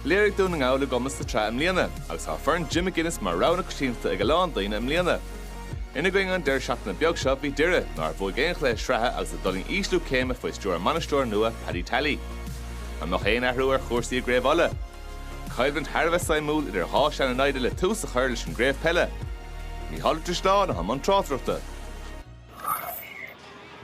Léirigh Dún na nGall a gcumas sa tsraith i mbliana agus tá foireann Jim McGuinness mar rogha na coitianta ag a lán daoine i mbliana. Ina gcoinne an deireadh seachtaine beag seo bhí Doire, nár bhuaigh aon chluiche sraithe agus a d'fhulaing ísliú céime faoi stiúir a mbainisteora nua, Paddy Tally. An mbeadh aon athrú ar chúrsaí i gCraobh Uladh? Coimhlint thar a bheith suimiúil idir dhá shean-namhaid le tús a chur leis an gcraobh peile. Micheál Ó Drisleáin atá i mbun tráchtaireachta.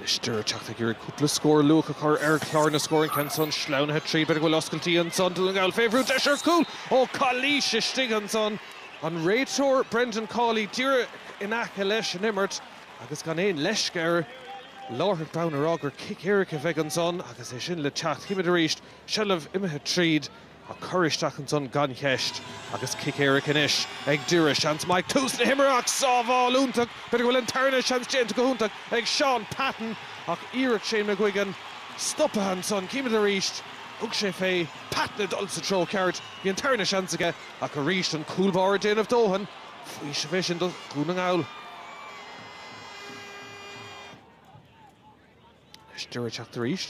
Is Doire ag teacht ag iarraidh cúpla scór luath a chur ar chlár na scór. An ceann san sleamhnaithe tríd. B'fhéidir go bhfuil oscailtí ansan Dún na nGall. Fé bhrú, deis ar chúl ó calaois! Istigh ansan an réiteoir Brendan Cawley, díreach in aice leis an imirt agus gan aon leisce air. Láithreach bonn a rá gur cic éirice a bheidh ansan agus é sin le teacht. Címid arís seilbh imithe tríd. Ag cur isteach ansan gan cheist. Agus cic éirice anois ag Doire. Seans maith ag tús na himeartha ach sábháil iontach, b'fhéidir go bhfuil an tarna seans déanta go hiontach ag Shaun Patton ach iarracht Shane McGuigan stoptha ansan. Címid arís. Thug sé fé Patton ag dul sa treo ceart. Bhí an tarna seans aige ach arís an cúl báire ag déanamh a dhóthain faoiseamh é sin do Dhún na nGall. Anois Doire ag teacht arís,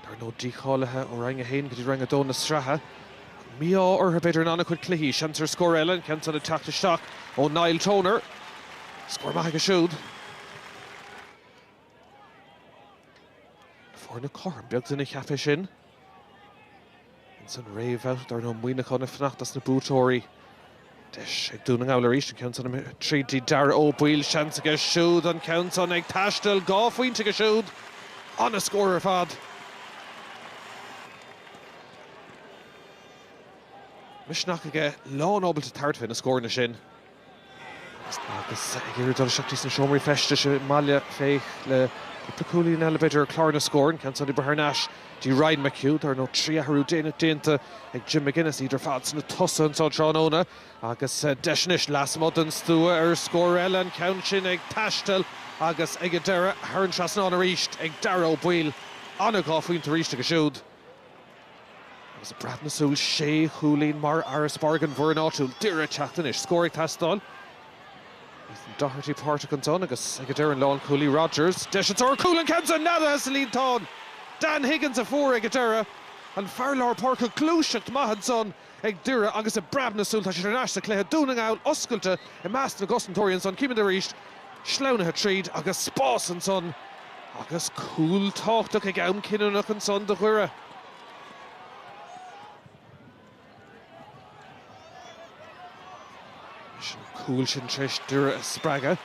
dar ndóigh, díchálaithe ó Roinn 1 go dtí Roinn 2 na sraithe. An mí-ádh orthu, b'fhéidir, in an-chuid cluichí. Seans ansan ar scór eile an ceann san ag teacht isteach ó Niall Toner. Scór maith aige siúd. Na foirne cothrom, beag duine a cheapfadh é sin. Ins an réamhbhabhta dar ndóigh Muineachán ag fanacht leis na buaiteoirí. Deis ag Dún na nGall arís an ceann san tríd dtí Dáire Ó Baoill. Seans aige siúd an ceann san ag taisteal. Dhá phointe aige siúd. An-scór ar fad. Misneach aige, lán ábalta tabhairt fé na scóranna sin. Agus ag iarraidh dul isteach sna seomraí feistis i mBealach Féich le cúpla cúilín eile, b'fhéidir, ar chlár na scór, an ceann san imithe thar n-ais dtí Ryan McHugh. Dar ndóigh, trí athrú déanta ag Jim McGuinness, iad ar fad sna tosaithe anseo tráthnóna agus deis anois lasmuigh den stua ar scór eile, an ceann sin ag taisteal agus ag an deireadh thar an trasnán arís ag Dáire Ó Baoill. An-dhá phointe arís aige siúd. Agus i bpreab na súl sé chúilín mar fharasbarr ag an bhfoireann áitiúil, Doire ag teacht anois. Scór ag teastáil. Ethan Doherty páirteach ansan agus ag an deireadh an lánchúlaí Rodgers, deis ansan ar chúl an ceann san neadaithe sa líontán. Dan Higgins a fuair ag an deireadh. An fear lár páirce gluaiseacht mhaith ansan. Ag Doire agus i bpreab na súl tá siad thar n-ais sa chluiche, Dún na nGall oscailte i measc na gcosantóirí ansan, címid arís sleamhnaithe tríd agus spás ansan agus cúl tábhachtach ag am cinniúnach ansan do Dhoire. Is an cúl sin tréis Doire a spreagadh,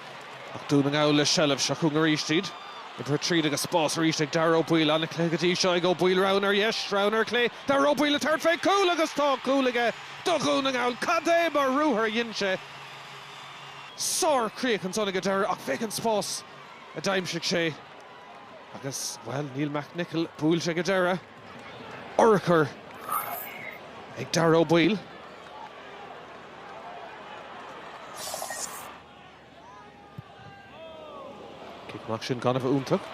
ach Dún na nGall le seilbh seo chugainn arís iad. Oibrithe tríd agus spás arís ag Dáire Ó Baoill. An-chluiche go dtí seo ag Ó Baoill, roghanna ar dheis, roghanna ar chlé. Dáire Ó Baoill ag tabhairt fé chúl agus tá cúl aige do Dhún na nGall. Cad é mar ruathar a dhein sé? Sárchríoch ansan ag an deireadh ach féach an spás a d'aimsigh sé agus, bhuel, Neil McNicholl buailte ag an deireadh. urchar ag Dáire Ó Baoill. Cic amach sin gan a bheith iontach.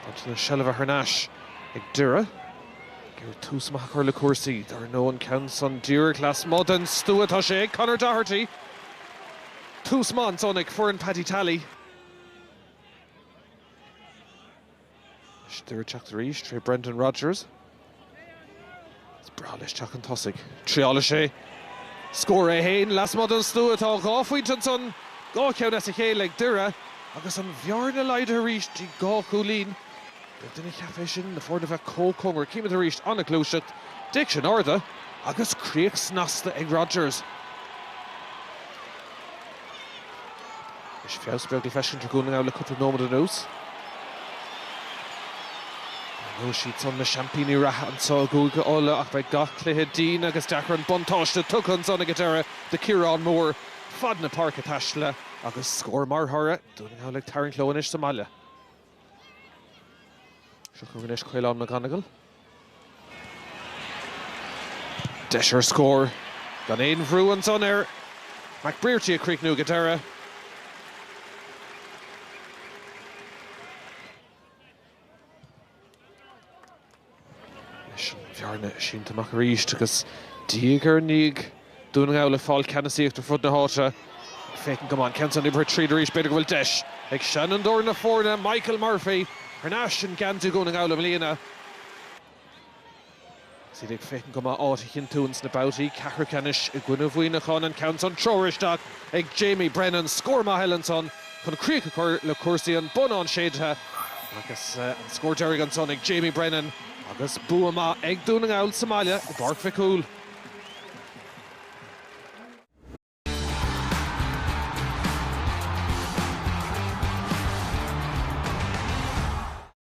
Baint na seilbhe thar n-ais ag Doire. Ag iarraidh tús maith a chur le cúrsaí. Dar ndóigh an ceann san díreach lasmuigh den stua tá sé ag Conor Doherty. Tús maith ansan ag foireann Paddy Tally. Is Doire ag teacht arís tré Brendan Rogers. Is breá leis teacht chun tosaigh. Triálfaidh sé scór é fhéin, lasmuigh den stua. Tá dhá phointe ansan, dhá cheann as a chéile ag Doire agus an bhearna laghdaithe arís go dtí dhá chúilín. Beag duine a cheap é sin, na foirne bheith chomh cóngarach. Címid arís, an-ghluaiseacht, cic sin ard agus críoch snasta ag Rogers. Is feabhas beag le feiscint ar Dhún na nGall le cúpla nóiméad anuas. Dar ndóigh is iad san na seaimpíní reatha anseo i gCúige Uladh ach beidh gach cluiche dian agus deacair an buntáiste tugtha ansan ag an deireadh do Chiarán Moore fad na páirce taistealta agus scór mar thoradh. Dún na nGall ag tarraingt leo anois sa mbaile. Seo chugainn anois Caolán McGonagle. Deis ar scór. Gan aon bhrú ansan ar McBrearty ag críochnú ag an deireadh. Leis an bhearna sínte amach arís agus diaidh ar ndiaidh Dún na nGall ag fáil ceannasaíocht ar fud na háite, ag féachaint go maith, an ceann san oibrithe tríd arís, b'fhéidir go bhfuil deis ag seanfhondúir na foirne, Michael Murphy, thar n-ais in geansaí Dhún na nGall i mbliana. Agus iad ag féachaint go maith áit a chinntiú ins na babhtaí ceathrú ceannais i gcoinne Mhuineacháin an ceann san, treoraithe isteach ag Jamie Brennan, scór maith eile ansan. chun críoch a chur le cúrsaí an bonnán séidthe agus an scór deiridh ansan ag Jamie Brennan agus bua maith ag Dún na nGall sa mbaile i bPáirc Mhic Cumhaill.